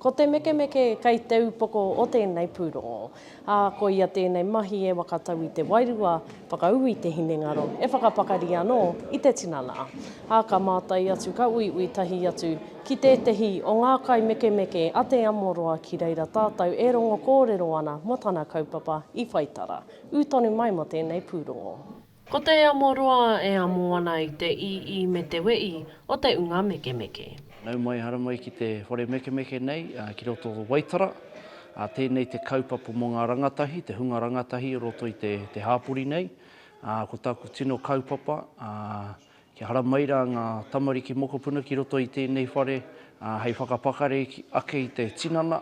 Ko te mekemeke kei te upoko o tēnei pūrongo, ā, ko ia tēnei mahi e whakatau i te wairua whakaū i te hinengaro e whakapakari anō i te tinana. Ā, ka mātai atu, ka uiui tahi atu ki tētehi o ngā kaimekemeke a Te Amoroa ki reira tātou e rongo kōrero ana mō tana kaupapa i whai tara. Ū tonu mai mō tēnei pūrongo. Ko te amo roa e amo ana i te ii me te wei o te unga mekemeke. Nau mai hara mai ki te whare mekemeke nei ki roto o Waitara. Tēnei te kaupapa mō ngā rangatahi, te hunga rangatahi o roto i te hāpori nei. Ko tāku tino kaupapa Kia haramai rā ngā tamariki mokopuna ki roto i tēnei whare hei whakapakari ake i te tinana,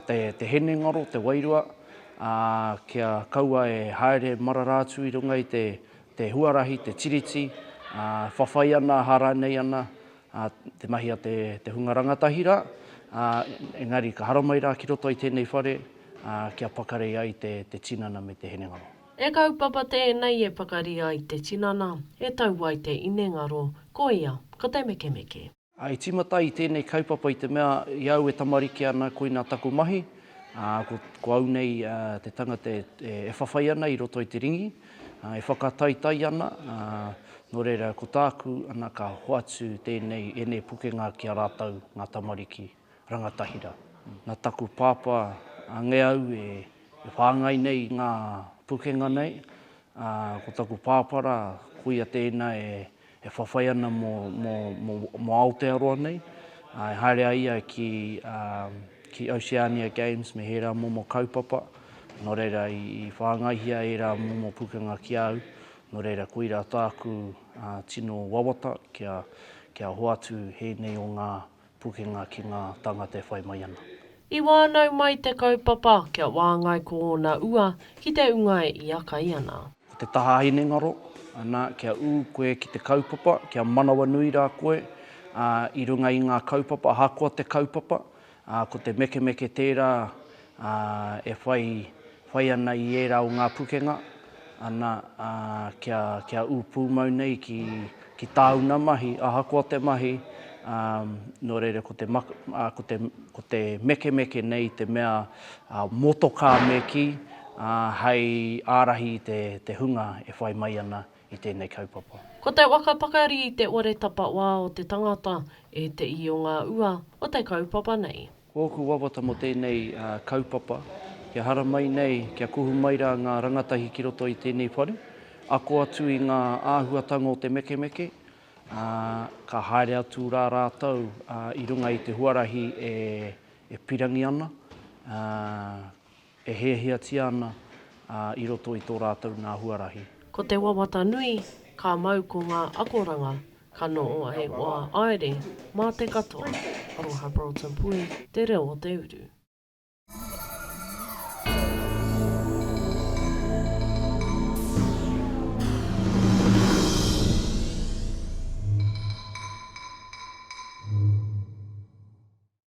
te hinengaro, te wairua, kia kaua e haere marara atu i runga i te huarahi, te tiriti, whawhai ana, aha rānei ana te mahi a te hunga rangatahi rā. Engari ka haramai rā ki roto i tēnei whare kia pakari ai te tinana me te hinengaro. E kaupapa tēnei e pakari ai te tinana, e tau ai te inengaro, koia, ko te mekemeke. Ā, i tīmata ai tēnei kaupapa i te mea, i au e tamariki ana, koinā taku mahi, ā, ko, ko au nei te tangata e, e whawhai ana i roto i te ringi, ā, e whakataitai ana, ā, nō reira, ko tāku, ana, ka hoatu tēnei, ēnei pukenga ki a rātou, ngā tamariki. Rangatahira. Na taku pāpā ange au e whāngai nei ngā pukenga nei, a ko taku pāpā rā koia tēina e whawhai ana mo Aotearoa nei, e haere ai ia ki Oceania Games me hērā momo kaupapa, no reira i whāngaihia ērā momo pukenga ki a au, no reira koira tāku tino wawata kia hoatu hēnei o ngā Pukenga ki ngā tāngata e whai mai ana. I wānau mai te kaupapa kia wāngai ko ōna ua ki te unga e ia kai ana. Ko te taha hinengaro, ana, kia ū koe ki te kaupapa, kia manawanui rā koe, ā, i runga i ngā kaupapa, ahakoa te kaupapa, ā, ko te mekemeke tērā, ā, e whai Whai ana i ērā o ngā pukenga, ana, ā, kia, kia ū pūmau nei ki, ki tāuna mahi, ahakoa te mahi, ā, nō reira ko te, ā, ko te, ko te mekemeke nei i te mea, ā, motokā me kī, ā, hei ārahi i te, te hunga e whai mai ana i tēnei kaupapa. Ko te waka pakari i te ore tapa wā o te tangata ētehi o ngā ua o te kaupapa nei. Ko ōku wawata mō tēnei kaupapa, kia haramai nei, kia kuhu mai rā ngā rangatahi ki roto i tēnei whare, ako atu i ngā āhuatanga o te mekemeke, ā, ka haere atu rā rātou i runga i te huarahi e pirangi ana, ā, E hiahiatia ana i roto i tō rātou nā huarahi. Ko te wawata nui, ka mau ko ngā akoranga, ka noho ai wā aere, mā te katoa. Aroha Broughton Pui, Te Reo o te Uru.